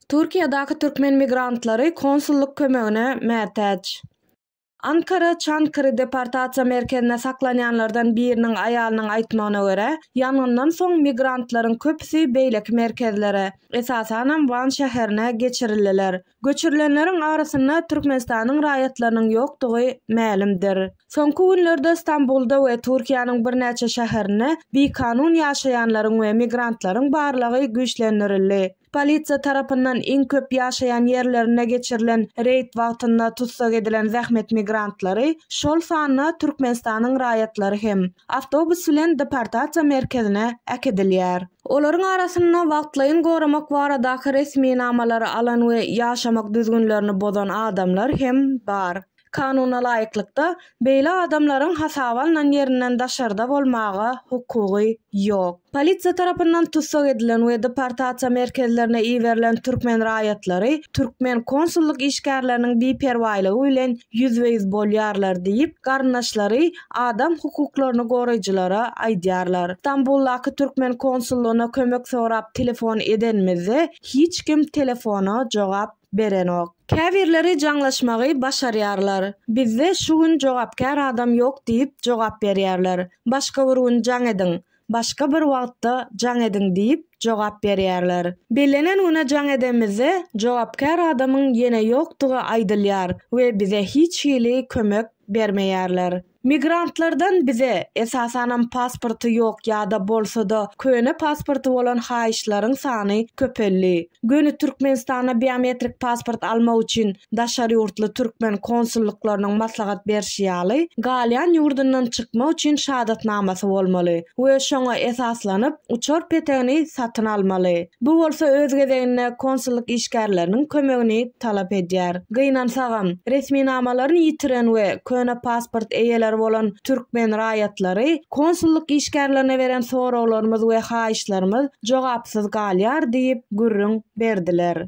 Türkiýedäki türkmen migrantlary konsullyk kömegine mätäç. Ankara Çankary deportasiýa merkezinde saklanýanlardan biriniň aýalynyň aýtmagyna görä, ýangyndan soň migrantlaryň köpüsi beýleki merkezlere, esasanam Wan şäherine geçirildiler. Göçürilenleriň arasynda Türkmenistanyň raýatlarynyň ýokdugy mälimdir. Soňky günlerde Stambulda we Türkiýäniň birnäçe şäherinde bikanun ýaşaýanlaryň we migrantlaryň barlagy güýçlendirildi. Polisiýa tarapyndan iň köp ýaşaýan ýerlerinde geçirilen reýd wagtynda tussag edilen zähmet migrantlary, şol sanda Türkmenistanyň raýatlary hem, awtobus bilen deportasiýa merkezine äkidilýär. Olaryň arasynda wagtlaýyn goramak baradaky resminamalary alan we ýaşamak düzgünlerini bozan adamlar hem bar. Kanuna laýyklykda, beýle adamlaryň hasaba alnan ýerinden daşarda bolmaga hukugy ýok. Polisiýa tarapyndan tussag edilen we deportasiýa merkezlerine iberilen türkmen raýatlary türkmen konsullyk işgärleriniň biperwaýlygy bilen ýüzbe-ýüz bolýarlar diýip, garyndaşlary Adam hukuklaryny goraýjylara aýdýarlar. Stambuldaky türkmen konsullygyna kömek sorap telefon edenimizde, hiç kim telefona jogap berenok. Käbirleri jaňlaşmagy başarýarlar. Bizde şu gün jogapkär adam ýok diýip jogap berýärler. Başga bir gün jaň ediň. Başga bir wagtda jaň ediň diýip jogap berýärler. Bellenen güne jaň edemizde, jogapkär adamyň ýene ýokdugy aýdylýar we bize hiç hili kömek bermeýärler. Migrantlardan bize, esasanam pasporty ýok ýa-da bolsa-da köne pasporty bolan haýyşlaryň sany köpeldi. Göni Türkmenistana biometrik pasport almak üçin Daşary ýurtly türkmen konsullyklarynyň maslahat berşi ýaly, galýan ýurdundan çykmak üçin şadatnamasy bolmaly we şoňa esaslanyp, uçar petegini satyn almaly. Bu bolsa öz gezeginde konsullyk işgärleriniň kömegini talap edýär. Gynansagam, resminamalaryny ýitiren we köne pasport eýeleri bolan türkmen raýatlary konsullyk işgärlerine beren soraglarymyz we haýyşlarymyz jogapsyz galýar diýip gürrüň berdiler.